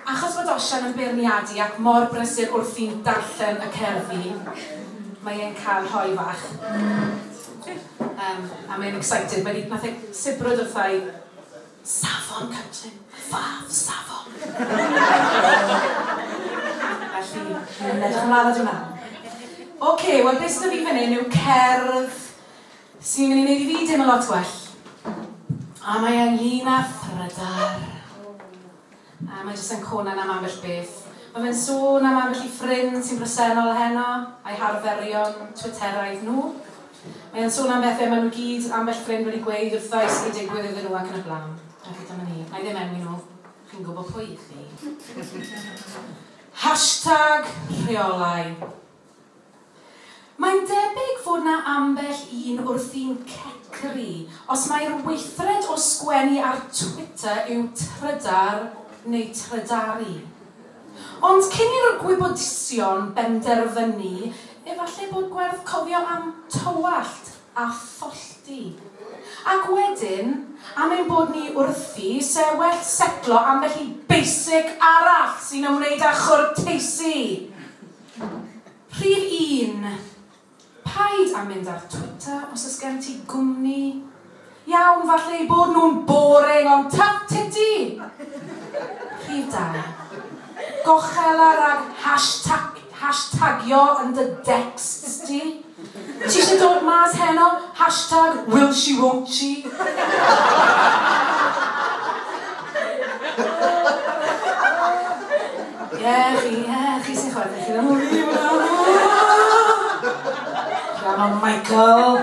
Achos bod Osian yn beirniadu ac mor brysur wrthi'n darllen y cerddi, mae e'n cael rhoi fach. Um, a mae'n excited. Mae wedi, nath e sibrwd wrtha i, safon cytun, fath safon. Felly, mae'n edrych ymlaen at hwnna. Oce, wel beth sydd fi fan hyn yw cerdd Sy'n ei wneud i fi deimlo lot well. A mae e'n lun a thrydar. A mae jyst yn conan am ambell beth. Mae fe'n sôn am ambell i ffrind sy'n bresennol heno, a'i harferion twitteraidd nhw. Mae e'n sôn am bethau maen nhw gyd, ambell ffrind wedi gweud wrtho i digwydd iddyn nhw ac yn y blaen. A chi dyma ni. Na i ddim enwi nhw. Chi'n gwybod pwy i chi. Hashtag rheolau. Mae'n debyg fod 'na ambell un wrthi'n cecru os mai'r weithred o sgwennu ar Twitter yw trydar neu trydaru. Ond cyn i'r gwybodusion benderfynu, efallai bod gwerth cofio am tywallt a thollti. Ac wedyn, am ein bod ni wrthi, 'se well setlo ambell i basic arall sy'n ymwneud â chwrteisi! Rhif un, Paid â mynd ar Twitter os oes gen ti gwmni. Iawn, falle eu bod nhw'n boring, ond tuff titty! Rhif dau, Gochela rhag hashtag, hashtagio yn dy decsts di. Ti isio dod mas heno? Hashtag will she won't she? Ie, chi, ie, chi sy'n chwarae, chi ddim yn fi, Come on, Michael.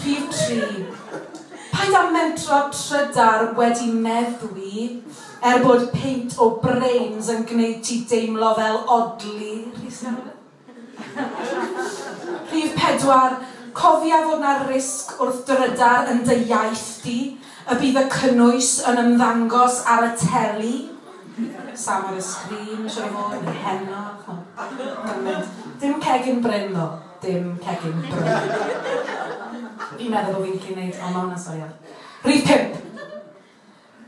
Rhif tri. Paid â mentro trydar wedi meddwi. Er bod peint o brains yn gwneud ti deimlo fel odli, Rhys Iorwerth? Rhif pedwar, cofia fod 'na risg wrth drydar yn dy iaith di, y bydd y cynnwys yn ymddangos ar y teli, Sam ar y sgrin, siŵr o fod, neu heno, chimod. Dim cegin bryn ddo, dim cegin bryn. Fi'n meddwl bod fi'n gallu neud, o ma' hwnna'n sori iawn. Rhif pump.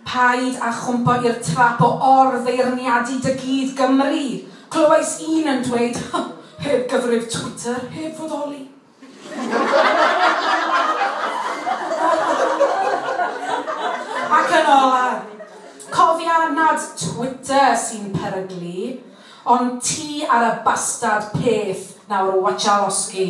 Paid â chwmpo i'r trap o or-feirniadu dy gyd Gymru! Clywais un yn dweud, Heb gyfrif Twitter, heb fodoli. Ac yn olaf, cofia nad Twitter sy'n peryglu, ond ti ar y bastad peth nawr watcha losgi.